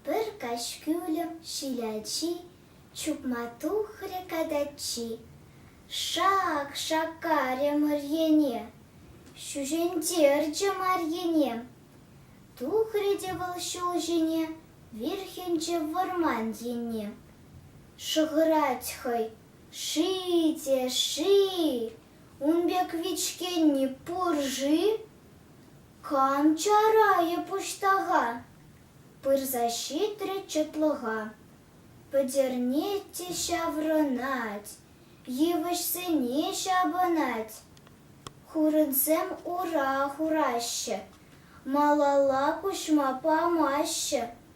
Пӗр каҫ кӳлӗм ҫилячи, Чупма тухрӗ катаччи. Шак! шаккарӗ Мӑрьене, Ҫӳҫентерчӗ Марьене. Тухрӗ те вӑл ҫул ҫине, Вирхӗнчӗ вӑрман енне. Шӑхӑрать хӑй, Ши те ши! Ун пек вичкенни пур-ши? Кам чарайӗ пуҫтаха? пырса ҫитрӗ чӑтлӑха. Пӗтернет те ҫаврӑнать, йывӑҫсене ҫапӑнать. Хурӑнсем ура хураҫҫӗ, малалла куҫма памаҫҫӗ,